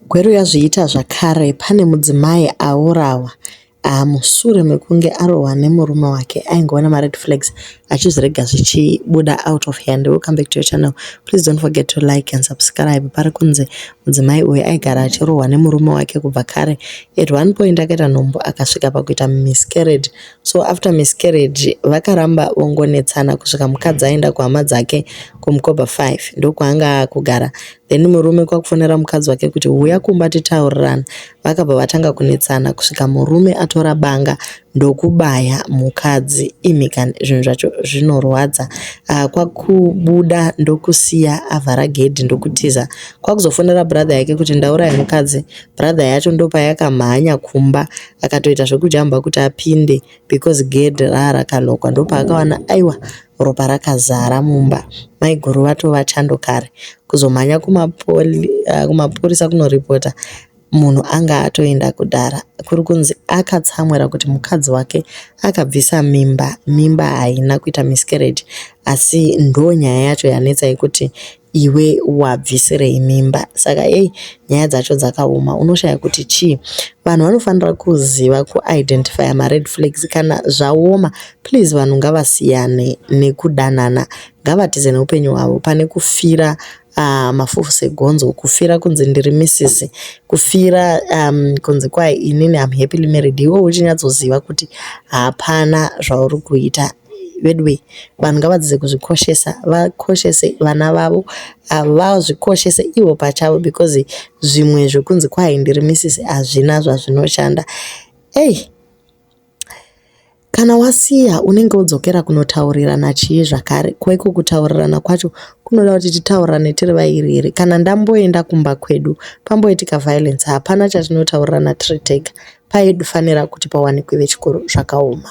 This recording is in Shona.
Gweru yazviita zvakare pane mudzimai aurawa mushure mekunge arohwa nemurume wake aingova nema red flags achizvirega zvichibuda out of hand welcome back to your channel please dont forget to like and subscribe parikunzi mudzimai uyu aigara achirohwa nemurume wake kubva kare at one point akaita nhumbu akasvika pakuita miscarriage so after miscarriage vakaramba vongonetsana kusvika mukadzi aenda kuhama dzake kumkoba 5 ndokwaanga akugara Then murume kwakufonera mukadzi wake kuti huya kumba titaurirane. Vakabva vatanga kunetsana kusvika murume atora banga ndokubaya mukadzi. Imhikan zvinhu zvacho zvinorwadza. Uh, kwakubuda ndokusiya avhara gedhi ndokutiza. Kwakuzofonera brother yake kuti ndauraya mukadzi. Brother yacho ndopayakamhanya kumba akatoita zvekujamba kuti apinde. because gedhi raa rakanokwa ndopaakawana aiwa ropa rakazara mumba maiguru vatova chando kare kuzomhanya kumapurisa kunoripota munhu anga atoenda kudhara kuri kunzi akatsamwira kuti mukadzi wake akabvisa mimba mimba haina kuita miscarriage asi ndonyaya yacho yanetsa yekuti iwe wabvisirei mimba saka hey nyaya dzacho dzakaoma unoshaya kuti chii vanhu vanofanira kuziva kuidentifya mared flags kana zvaoma please vanhu ngavasiyane nekudanana ngavatize neupenyu hwavo pane kufira uh, mafufu segonzo kufira kunzi ndiri misisi kufira um, kunzi kwai inini am happily married iwe uchinyatsoziva kuti hapana zvauri kuita veduwe vanhu ngavadzidze kuzvikoshesa vakoshese vana vavo ah, vazvikoshese ivo pachavo because zvimwe zvekunzi kwai ndiri misisi hazvina zvazvinoshanda ei kana wasiya unenge wodzokera kunotaurirana chii zvakare kwaiko kutaurirana kwacho kunoda kuti titaurirane tiri vairi here kana ndamboenda kumba kwedu pamboitika violence hapana chatinotaurirana tiri tega paifanira kuti pawanikwe vechikoro zvakaoma